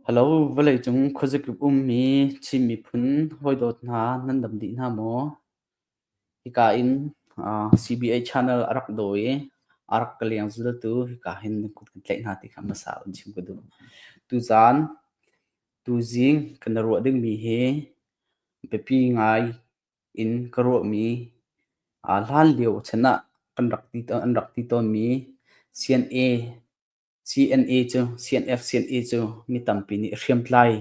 Halo, vawleicung khuazakip ummi Chin miphun hawidawt hna nan dam dih hna maw? Hika in CBA channel a rak daw i a rak ka leng zaltu hika hin na kut kan tlaih hna ti kha hmasa in chim ka duh. Tuzaan, tuzing kan i ruah dingmi hi biapi ngai in ka ruahmi hlanlio chan ah an rak ti tawnmi CNA CNA cu CNF-CNA cu mi tampi nih hriamtlai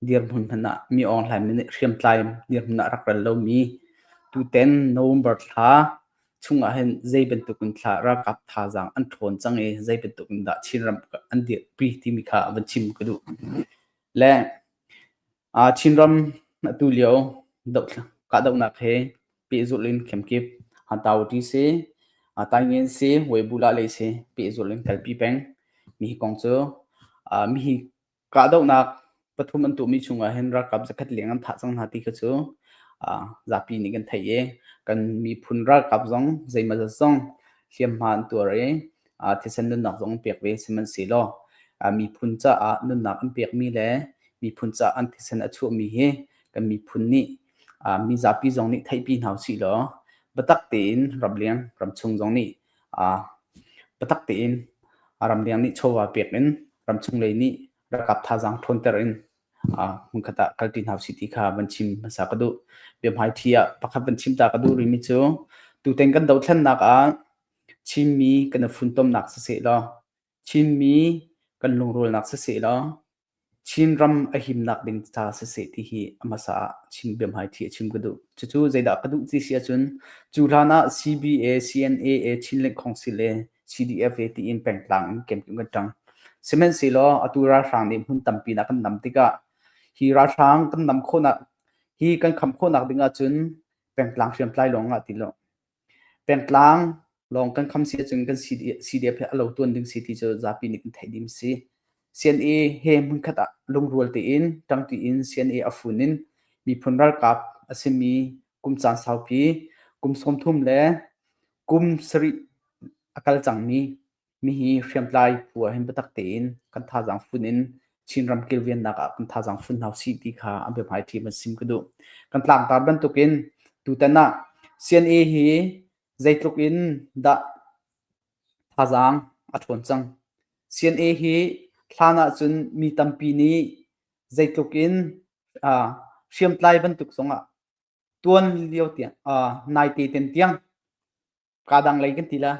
dirhmun hmanh ah mi awngleinmi nih hriamtlai dirhmun ah rak rel lomi tutan November thla chung ah hin zei bantuk in thla ralkap thazaang an ṭhawn cang i zei bantuk in dah Chinram an dirpi timi kha a van chim ka duh. Le Chinram atulio kahdohnak he pehzulh in kemkip Hantau ṭi si, Taingen si, Weibula lei si pehzulh in kalpi peng. Mihi kong cu mihi kahdohnak pathum an tuahmi chungah hin ralkap zakhat leng an thah cang hna ti kha cu zapi nih kan theih i kan miphun ralkap zong zeimawzat zong hliamhma an tuar i thisen nunnak zong an pek ve sihmanhsehlaw miphun caah nunnak an pekmi le miphun caah an thisen a chuahmi hi kan miphun nih mi zapi zong nih theihpi hna usih law biatak tein ramleng ramchung zong nih biatak tein ramleng nih chawva pek in ramchung lei nih rakap thazaang ṭhawnter in hmunkhat ah kalpi hna usih ti kha van chim hmasa ka duh biahmaiṭhi ah pakhat van chim ta ka duh rimi cu tutan kan dothlennak ah Chimmi kan i funtomnak sisehlaw, Chinmi kan lungrulnak sisehlaw, Chinram a himnak ding ca siseh ti hi a hmasa ah chim biahmai thi a chim ka duh. Cucu zeidah ka duh ti si ahcun, cu hlan ah CBA, CNAA, Chin Link Council le CDFA tiin pengtlang in kemkem kan ṭang. Sihmanhsehlaw atu ralhrang nih hmun tampi in a kan nam tikah, hi ralhrang kan nam khawhnak, hi kan khamh khawhnak ding ahcun pengtlang hriamtlai lawngah ti law, Pengtlang lawng kan kham si ahcun kan CDF he a lo tuan ding si ti cu zapi nih kan theih ding si. CNA he hmunkhat ah lungrual tein ṭangṭi in CNA a fun in miphun ralkap a simi kum caan saupi kum sawmthum le kum sarih a kal cangmi Mihi hriamtlai phu ah hin biatak tein kan thazaang fun in Chinram kilvennak ah kan thazaang fun hau si ti kha a biahmai ṭhi van sim ka duh. Kan tlangtar bantukin tutan ah CNA hi zeitluk in dah thazaang a ṭhawn cang. CNA hi hlan ahcun mi tampi nih zeitluk in ah hriamtlai bantuk zongah tuan lio tiang ah naite ten tiang Kaa dang lei kan ti la,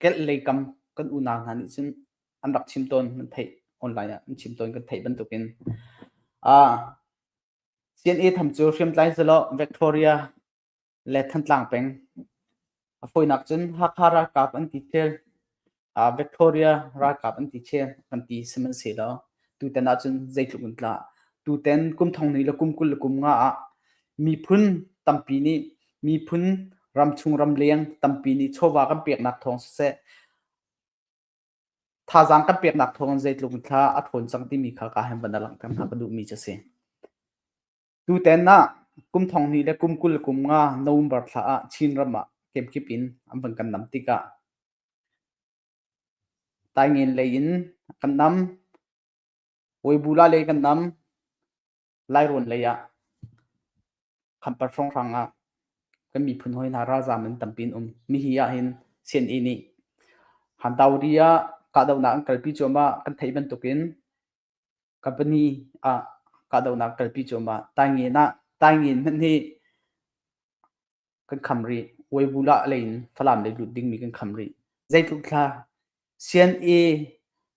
kelh lei kam kan unau hna nih cun an rak chim tawn kan theih online ah an chim tawn kan theih bantukin ah CNA tham cu hriamtlai zalaw Victoria le Thantlang peng a fawinak cun Hakha ralkap an ti thil Victoria ralkap an ti khi kan ti sihmanhsehlaw tutan ahcun zeitluk in tlah tutan kum thong ni le kum kul le kum nga ah miphun tampi nih miphun ramchung ramleng tampi nih chawva kan peknak thawng siseh thazaang kan peknak thawng in zeitluk in thla a ṭhawn cang timi kha ka han van a langhter hna ka duhmi cu a si. Tutan ah kum thong hnih le kum kul le kum nga November thla ah Chin ram ah kemkip in an van kan nam tikah tai ngen lei in kan nam Weibula lei kan nam Lairawn lei ah Khampat hrawnghrang ah kan miphun hoi hna ralzam an tampi an um mi hi ah hin CNE nih Handauri ah kahdohnak an kalpi cuahmah kan theih bantukin company ah kahdohnak kalpi cuahmah. Taingein ah Taingein hmanh hi kan kham rih. Weibulah lei in Falam lei lut dingmi kan kham rih. Zeitluk thla CNA,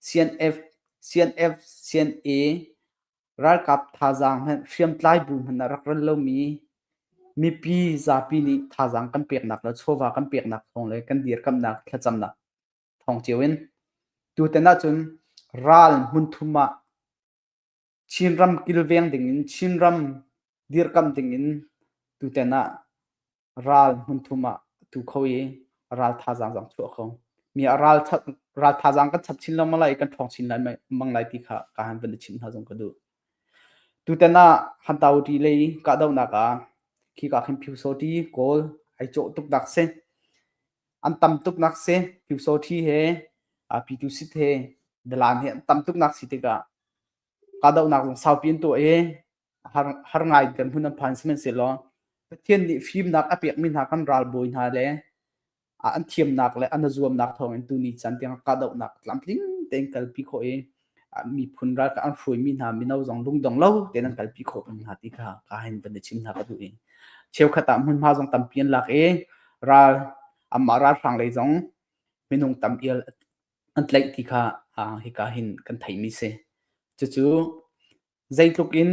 CNF, CNF, CNA ralkap thazaang hmanh hriamtlai bu hmanh a rak ral lomi mipi zapi nih thazaang kan peknak le chawva kan peknak thawng le kan dirkamhnak thlacamnak thawng cio in. Tutan ahcun ral hmunthum ah Chinram kilveng dingin Chinram dirkamh dingin tutan ah ral hmunthum ah tu kho i ral thazaang zong chuah kho mi ah ral ral thazaang kan chap chin lo malai kan thong chin lai mang lai ti kha ka han van chim hna zong ka du tutan ah han tau ti lei ka do na ka khi ka khin phiu so ti kawl ai cho tuk dak se an tam tuknak si Pyusawṭhi he uh, Pyitusit he Dalan he an tam tuknak si tikah kahdohnak zong saupi an tuah i har, har ngai kan hmun an phan sihmanhsehlaw Pathian nih fimnak a pekmi hna kan ralbawi hna le an thiamnak le an zuamnak thawngin tuni chan tiang kahdohnak tlamtling tein kalpi khawh i miphun ralkap an hruaimi hna mino zong lungdong lo tein an kalpi khawh peng hna ti kha ka hin van i chim hna ka duh i cheukhat ah hmunhma zong tampi an lak i ral amah ralhrang lei zong minung tampi an tlaih ti kha hika hin kan theimi si cucu zeitluk in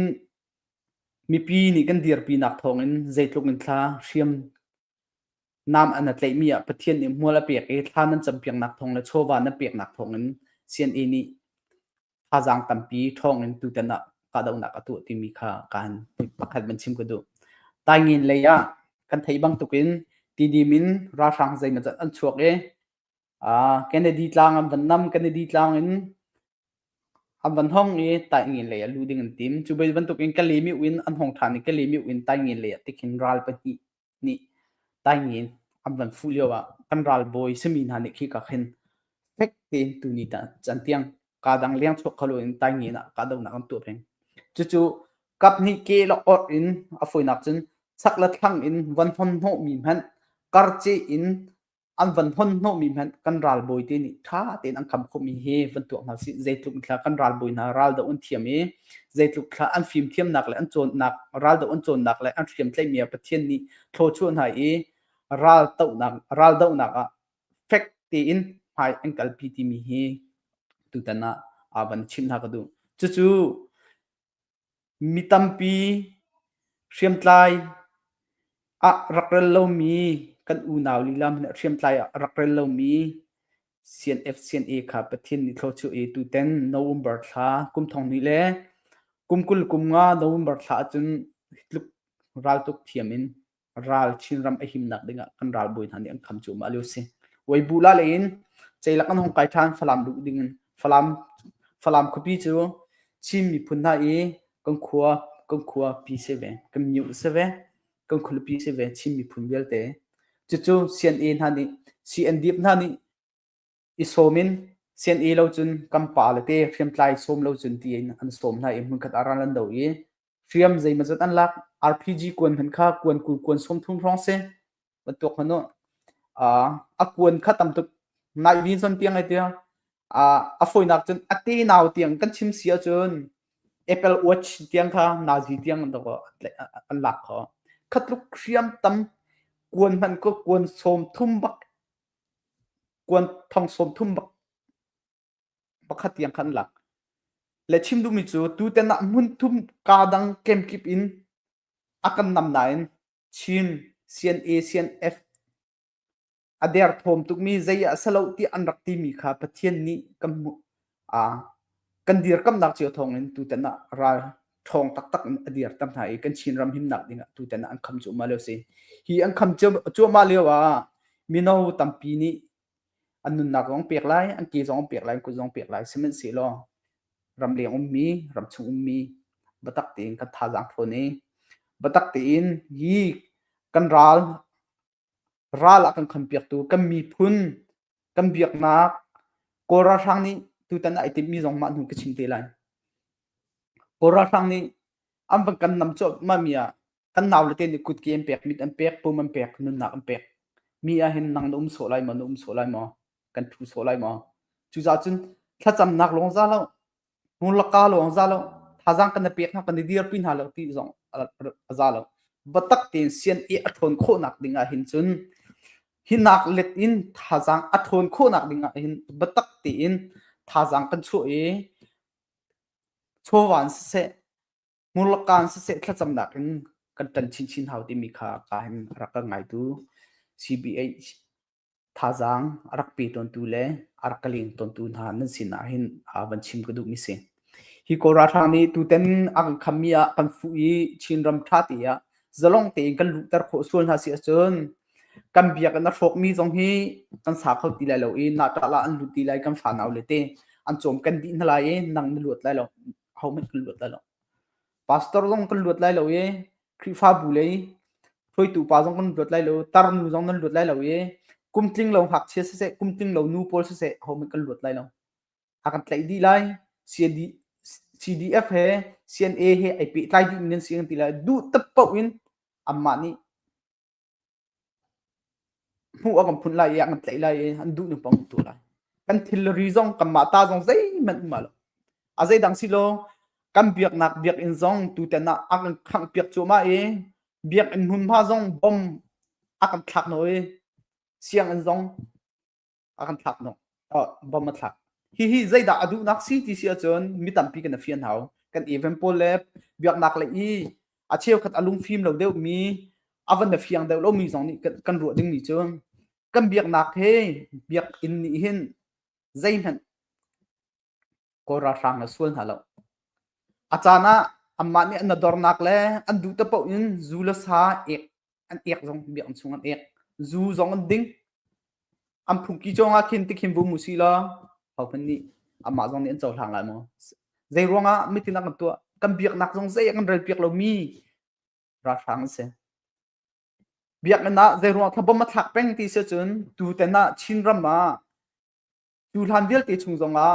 mipi nih kan dirpinak thawngin zeitluk in thla hriam Nam an a tlaihmi ah Pathian nih hmual a pek i thla nan campiaknak thawng le chawva nan peknak thawngin CNA nih thazaang tampi ṭhawngin tutan ah kahdohnak a tuah timi kha kan pakhat van chim ka duh. Taingiin lei ah kan theih bangtukin tidim in ralhrang zeimawzat an chuak i Kennedy tlang an van nam. Kennedy tlang in an van hong i Taingiin lei ah luh ding an tim. Cu bantuk in Kalymyuk in an hong ṭhan i Kalymyuk in Taingiin lei ah ti khin ral pahnih nih Taingiin an van fuh lio ah kan ralbawi simi hna nih khika khin fek tein tuni tah can tiang kaa dang leng chuak kho lo in Taingiin ah kahdohnak an tuah peng. Cucu kaphnih ke le orh in a fawinak cun sak le thlang in van hon hnawhmi hmanh karceh in an van hon hnawhmi hmanh kan ralbawi te nih ṭha tein an kam khawhmi hi van tuah hna sih zeitluk thla kan ralbawi hna raldo an thiam i zeitluk thla an fimthiamnak le an cawnnak raldo an cawnnak le an hriamtlaihmi ah Pathian nih thlawchuah hna i raldohnak raldohnak ah fek tein hmai an kalpi timi hi tutan ah van chimh hna ka duh cucu Mi tampi hriamtlai ah rak rel lomi kan unau lila hmanh nih hriamtlai ah rak rel lomi CNF/CNA kha Pathian nih thlaw cu e tuten November thla kum thonghnih le kum kul kum nga November thla ahcun hi tluk raltuk thiam in ral Chinram a himnak ding ah kan ralbawi hna nih an kham cu ma liu si Weibula le in ceilak an hong kai ṭhan Falam luh ding in Falam Falam khuapi cu Chin miphun hna i kan khua kan khua pi se ve kan myu se ve kan khulupi se ve Chin miphun vialte cucu CNA hna nih CNDP hna nih i sawm in sian-e lo cun kan pa le te hriamtlai sawm lo cun ti in an sawm hna i hmunkhat ah ral an do i hriam zeimazat an lak RPG kuan hmanh kha kuan kul kuan sawm thum hrawng si bantuk hmanu a kuan kha tam tuk nai vin son tiang ai tia a fawinak cun a te nau tiang kan chim si ahcun Apple Watch tiang kha nazi tiang an lak kho khatluk hriam tam kuan hmanh ko kuan sawm thum bak kuan thong sawm thum pakhat tiang khan an lak. Le chim duhmi cu tutan ah hmun thum kaa dang kemkip in a kan nam nain Chin, CNA, CNF a der thawm tukmi zei ah a si lo tiah an rak timi kha Pathian nih kan hmuh. kan dirkamnak cio thawngin tutan ah ral ṭhawng taktak in a dirtam hna i kan Chinram himnak dingah tutan ah an kham cuahmah lio si. Hi an kham cuahmah lio ah mino tampi nih an nunnak zong pek lai, an ke zong pek lai, an kut zong pek lai, sihmanhsehlaw ramleng ummi, ramchung ummi biatak tein kan thazaang thawn i biatak tein hi kan ral Ral a kan khampiaktu kan miphun, kan biaknak Kawl ralhrang nih tutan ah ai timhmi zong mah hnu ka chim te lai. Kawl ralhrang nih an van kan nam cuahmahmi ah kan naule te nih kutke an pek, mit an pek, pum an pek, nunnak an pek. Mi ahhin nang na um sawh lai maw, na um sawh lai maw, kan thu sawh lai maw. Cucaah cun thlacamnak lawng za lo, Hmun laka lawng za lo, thazang kan i pek hna, kan i dirpi hna lo ti zong a za lo. Batak tein CNA a ṭhawn khawhnak ding ahhin cun hi nak let in thazang a ṭhawn khawhnak ding ahhin batak tein thazang kan chuah i chawva in siseh, hmun laka in siseh thlacamnak in kan ṭan chinchin hau timi kha ka hin rak ka ngaitu CBA thazaang a rak pe tawntu le a rak ka leng tawntu hna nan sinah hin uh, van chim ka duhmi si. Hi Kawl ralhrang nih tutan a kan khammi ah kan fuh i Chinram ṭha te ah zalong tein kan luhter khawh sual hna si ahcun kan biakinn a hrawkmi zong hi kan sa kho ti lai lo i natala an lut ti lai kan fa nau le te an cawm kan dih hna lai i nang na luat lai lo hohmanh kan luat lai lo pastor zong kan luat lai lo i khrihfabu lei hruaitu pa zong kan luat lai lo tar nu zong nan luat lai lo i kum tling lo ngakchia siseh kum tling lo nu pawl siseh hom kan luat lai lo a kan tlaih dih lai CDF he CNA he ai pehtlai dih mi nan si kan ti lai duh tat paoh in anmah nih hmuh a kan phunh lai i a kan tlaih lai i an duh nung pang um tu lai. Kan thilri zong kanmah ta zong zeihmanh um a lo. A zeidang si law kan biaknak biakinn zong tutan ah a kan khangh piak cuahmah i biakinn hmunhma zong bom a kan thlak nawi sianginn zong a kan thlak hnawh bom a thlak hihi zeidah a duhnak si ti si ahcun mi tampi kan a fian hau kan even pawl le biaknak le i a cheukhat a lungfim lo deuhmi a van a fiang deuh lomi zong nih kan ruah dingmi cu kan biaknak he biak inn nih hin zeihmanh Kawl ralhrang a sual hna lo. A caan ah anmah nih an dornak le an duh te paoh in zu le sa ek an ek zong biakinn chung an ek zu zong an ding an phungki cong ah khin tikhin vum usih law hohmanh nih amah zong nih an cohlang lai maw zei ruangah mitin ah kan tuah kan biaknak zong zei ah kan rel piak lomi ralhrang an si biakinn ah zei ruangah thabom a thlak peng ti si cun tu ten ah chin ram ah Cu hlan vialte chung zongah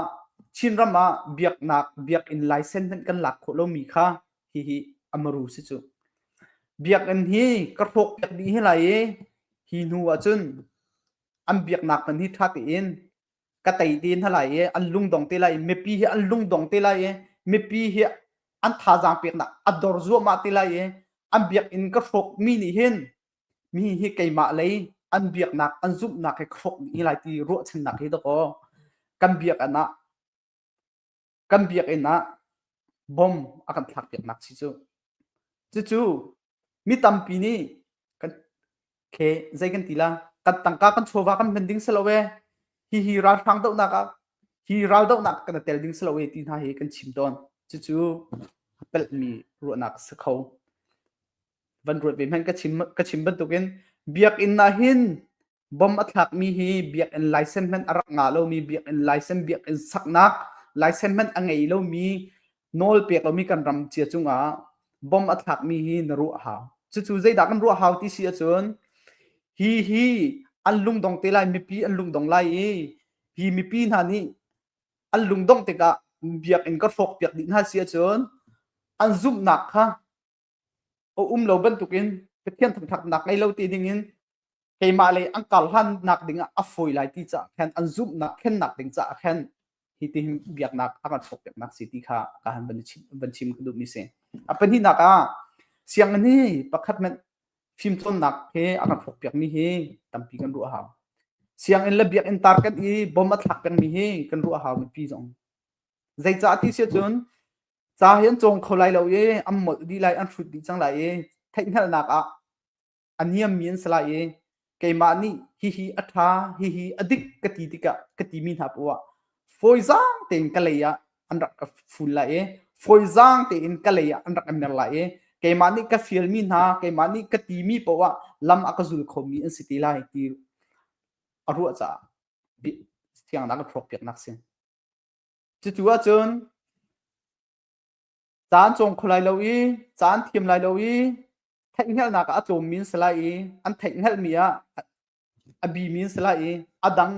Chin ram ah biaknak biakinn laisen hmanh kan lak khawh lomi kha hihi amaru si cu. Biakinn hi ka hrawk piak dih hi lai i hi hnu ahcun an biaknak hman hi ṭha tein ka tei te hna lai i an lungdong te lai mipi hi an lungdong te lai i mipi hi an thazaang peknak a dor zuahmah te lai i an biakinn ka hrawkmi nih hin mi hi keimah lei an biaknak an zumhnak he khrawk ding lai ti ruahchannak hi dakaw kan biakinn ah kan biakinn ah bom a kan thlak piaknak si cu cucu mi tampi nih kan ke zei kan ti la kan tangka kan chawva kan hman ding selo we hi hi ralhrang dohnak ah hi ral dohnak kan tel ding selo we ti hna hi kan chim tawn cucu pelmi ruahnak si kho van ruat ve hmanh ka chim ka chim bantukin biakinn ah hin bom a thlakmi hi biakinn laisen hmanh a rak nga lomi biakinn laisen biakinn saknak laisen hmanh a ngei lomi nawl pek lomi kan ram cia cungah bom a thlakmi hi na ruah hau cucu zeidah kan ruah hau ti si ahcun hi hi an lungdong te lai mipi an lungdong lai i hi mipi hna nih an lungdong tikah biakinn ka hrawk piak dih hna si ahcun an zumhnak kha a um lo bantukin Pathian thangṭhatnak ngei lo ti dingin keimah lei an karhlannak dingah a fawi lai ti caah khan an zumhnak khennak ding caah khan hitihin biaknak a kan hrawkpiaknak si ti kha ka han van chim, van chim ka duhmi si. A pahnihnak ah sianginn hi pakhat men fimcawnnak he a kan hrawkpiakmi hi tampi kan ruah hau. Sianginn le biakinn tar kan i bom a thlak pengmi hi kan ruah hau mipi zong. Zeicah ti si cun ca hi an cawng kho lai lo i an molh dih lai an hrut dih cang lai i theihhngalhnak ah a niammi an si lai i keimah nih hihi a ṭha hihi a dik ka ti tikah ka timi hna poah fawizaang tein ka lei ah an rak ka ful lai i fawizaang tein ka lei ah an rak ka mer lai i keimah nih ka fialmi hna keimah nih ka timi poah lam a ka zul khomi an si ti lai ti a ruah caah thiangnak ka hrawk piaknak si. Cucu ahcun caan cawng kho lai lo i caan thiam lai lo i theihhngalhnak ah a tlawmmi si lai i an theihhngalhmi ah a bimi si lai i a dang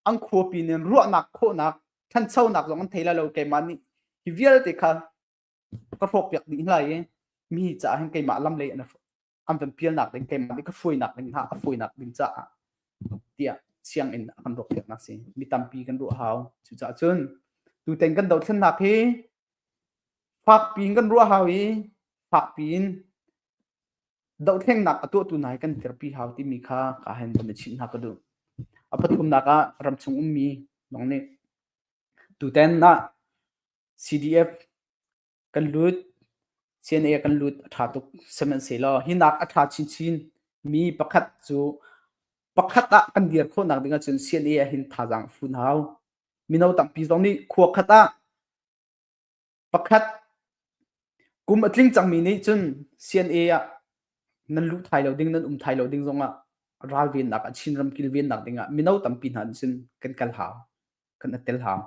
an khuapi nin ruahnak khawhnak ṭhanchonak zong an thei lai lo keimah nih hi vialte kha ka hrawkpiak dih hna i mi caah hin keimah lam lei an an van pialnak ding keimah nih ka fuinak ding hna a fuinak ding caah tiah sianginn a kan ruahpiaknak si mi tampi kan ruah hau cucaah cun tutan kan dothlennak hi fakpi in kan ruah hau i fakpi in dohthlengnak a tuahtu nai kan terpi hau timi kha ka hen van i chinh hna ka duh a pathumnak ah ramchung ummi nong nih tutan ah CDF Kan lut. CNA kan lut a ṭha tuk sihmanhsehlaw hinak a ṭha chinchin mi pakhat cu pakhat ah kan dir khawhnak ding ahcun CNA ahhin thazaang a fun hau. Mino tampi zong nih khua khat ah pakhat kum a tling cangmi nih cun CNA ah nan luh thai lo ding, nan um thai lo ding zongah ralvennak a Chinram kilvennak dingah mino tampi hna nih cun kan kal hau, kan attel hau.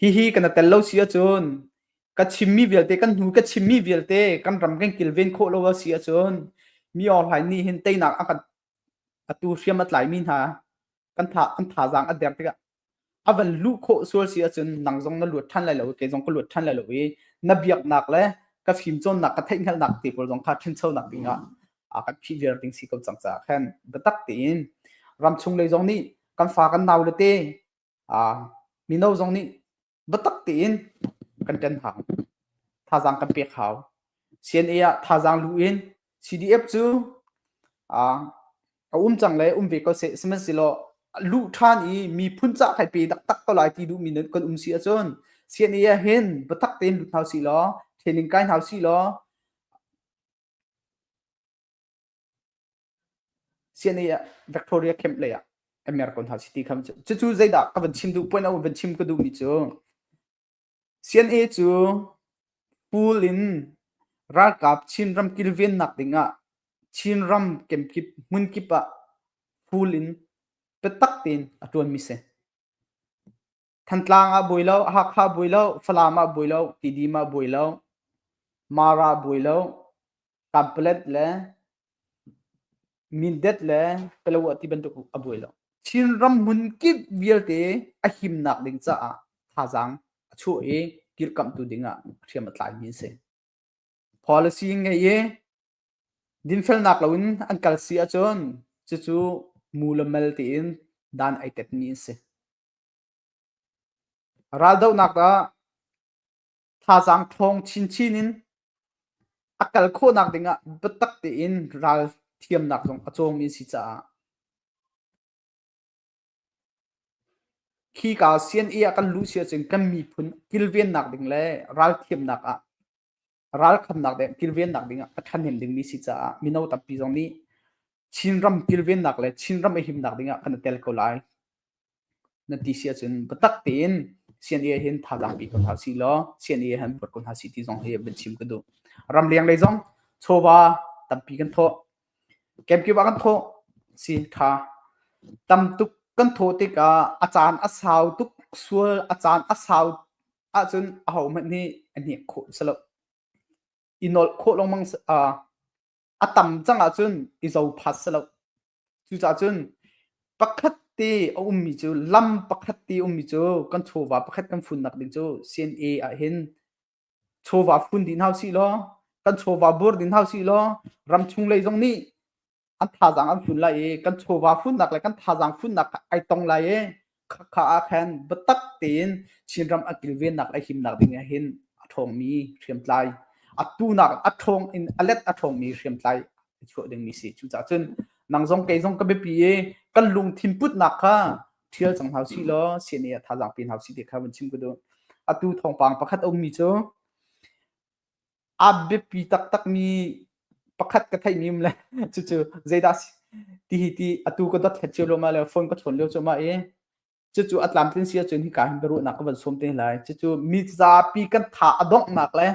Hihi kan i tel lo si ahcun ka chimmi vialte, kan hnu ka chimmi vialte kan ram kan kilven khawh lo a si ahcun mi online nih hin teinak a kan atu hriam a tlaimi hna kan tha an thazaang a der tikah a van luh khawh sual si ahcun nang zong na luat ṭhan lai lo, kei zong ka luat ṭhan lai lo i na biaknak le ka fimcawnnak, ka theihhngalhnak te pawl zong kha ṭhanchonak ding ah a kan phih viar ding si ko cang caah khan biatak tein ram chung lei zong nih kan fa kan nau le te mino zong nih biatak tein kan ṭen hau. Thazaang kan pek hau. CNA ah thazaang luh in CDF cu a um cang le um ve ko seh, sihmanhsehlaw luh ṭhan i miphun ca kai pe taktak ko lai ti duhmi kan um si ahcun CNA ah hin biatak tein lut hau sih law, training kai hau sih law, CNA ah Victoria camp lei ah a mer ko hna city kham cucu zeidah ka van chim duh point van chim ka duhmi cu CNA cu pool in ralkap Chinram kilvennak dingah Chinram kemkip hmunkip ah pool in biatak tein a ṭuanmi si. Thantlang ah buai lo, Hakha buai lo, Falam ah buai lo, Tidim ah buai lo, Mara buai lo, Kanpalet le Mindet le Kalawah ti bantuk a buai lo. Chinram hmunkip vialte a himnak ding caah thazaang a chuah i kirkamhtu dingah hriam a tlaimi a si. Policy ngei i dinfelnak loin an kal si ahcun cucu mu le mel tiin dan ai tetmi a si. Raldohnak ah thazaang ṭhawng chinchin in a kal khawhnak ding ah biatak tein ral thiamnak zong a cawmi a si caah khi ka CNA ah kan luh si ahcun kan miphun kilvennak ding le ralthiamnak ah ralkhamnak ding kilvennak ding ah a ṭhahnem dingmi si caah mino tampi zong nih Chinram kilvennak le Chinram i himnak ding ah kan i tel ko lai na ti si ahcun biatak tein CNA hin thazaang pe ko hna si law CNA han buat ko hna si ti zong hi vun chim ka duh ramleng lei zong chawva tampi kan thawh kemkiba kan thawh si kha tam tuk kan thawh tikah a caan a sau tuk sual a caan a sau ahcun ahohmanh nih a hnek khawh si lo. I nolh khawh lengmang a tam cang ahcun i zophat si lo. Cucaah cun pakhat te a ummi cu lam pakhat te ummi cu kan chawva pakhat kan funnak ding cu CNA ah hin chawva fun din hau si law kan chawva bur din hau si law ram chung lei zong nih an thazaang an fun lai i kan chawva funnak le kan thazaang funnak kha ai tong lai i khakha ah khan biatak tein Chinram a kilvennak le himnak ding ah hin a ṭhawngmi hriamtlai atu nak a ṭhawng in a let a ṭhawngmi hriamtlai a chuah dingmi si cucaah cun nang zong kei zong ka biapi i kan lungthin putnak kha ṭhial cang hau si law CNA a thazaang pin hau si ti kha vun chim ku duh atu thawngpang pakhat a ummi cu a biapi taktakmi pakhat ka theihmi um le cucu zeidah ti hi ti atu ka dot hlet cio loma le phone ka chawn lio cu ma i cucu a tlamtlin si ahcun hika hin biaruahnak ka van sawm te lai cucu mi zapi kan tha a donghnak le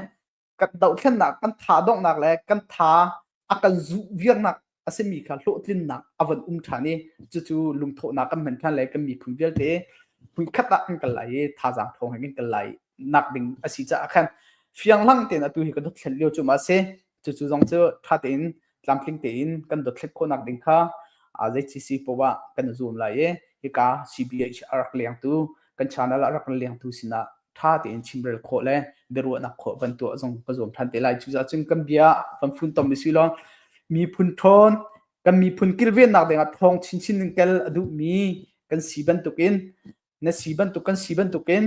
kan dohthlennak kan tha donghnak le kan tha a kan zuh viangnak a simi kha hlawhtlinnak a von um ṭhan i cucu lungthawhnak kan hman ṭhan lai kan miphun vialte khat ah kan kal lai i thazaang thawng he kan kal lai nak ding a si caah khan fianglang tein atu hi kan dot thlen lio cu ma si cucu zong cu ṭha tein tlamtling tein kan dot thlet khawhnak ding kha zei CC poah kan zoom lai i hika CBHR rak lengtu kan channel ah rak kan lengtu sinah ṭha tein chimrel khawh le biaruahnak khawh van tuah zong ka zuam ṭhan te lai. Cucaah cun kan bia van funtom i si law miphun ṭhawn kan miphun kilvennak dingah thawng chinchin in kel a duhmi kan si bantukin na si bantuk kan si bantukin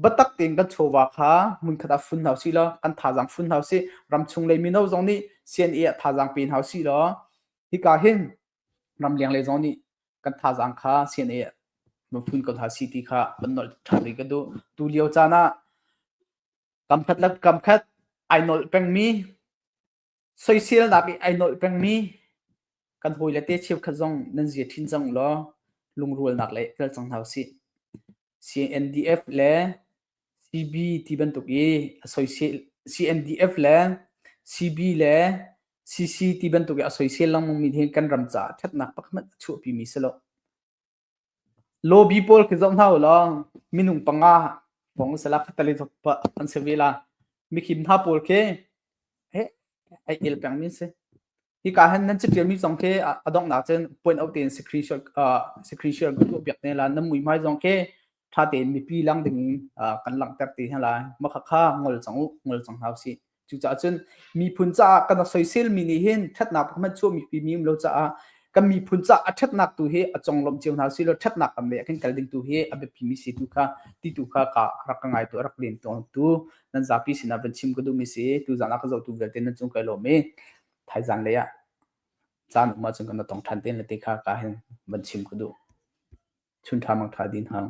batak tein kan chawva kha hmunkhat ah fun hau si law kan thazaang fun hau si ram chung lei mino zong nih CNA ah thazaang pe hau si law hika hin ramleng le zong nih kan thazaang kha CNA mafun ko hna si ti kha kan nolh ṭhan rih ka duh. Tu lio caan ah kamkhat le kamkhat ai nolh pengmi, soiselnak i ai nolh pengmi kan hawile te cheukhat zong nan zia ṭhin cang ulaw lungrualnak le i tel cang hna usih. CNDF le CB ti bantuk i a soisel CNDF le CB le CC ti bantuk i a soisel lengmangmi hi kan ram caah ṭhatnak pakhat a chuahpimi si lo. Lobby pawl khi zoh hna u law minung panga pong sala khatali thok pa an se vela. Mikhim hna pawl khi he ai el pengmi si. Hika han nan citial mi zong khi a donghnak cun point out tein secretion secretion kan tuah piak ne la nan mui hmai zong khi tha tein mipi lang ding kan langhter te hna lai makhakha ngol cang u ngol cang hau si cucaah cun miphun caah kan soisel mi nih hin thatnak hman chuah mipi mi um lo caah kan miphun caah a thatnak tu hi a conglawmh cio hna si lo thatnak kam le a kan kal ding tu hi a biapi mi si tu kha ti tu kha ka rak ka ngai tu a rak len tawn tu nan zapi sinah van chim ka duhmi si tuzan ah ka zohtu vialte nan cung kai lawm i thaizan lei ah caan um ahcun kan tong ṭhan ten le te kha ka hin van chim ka duh chun ṭha mang ṭha din hang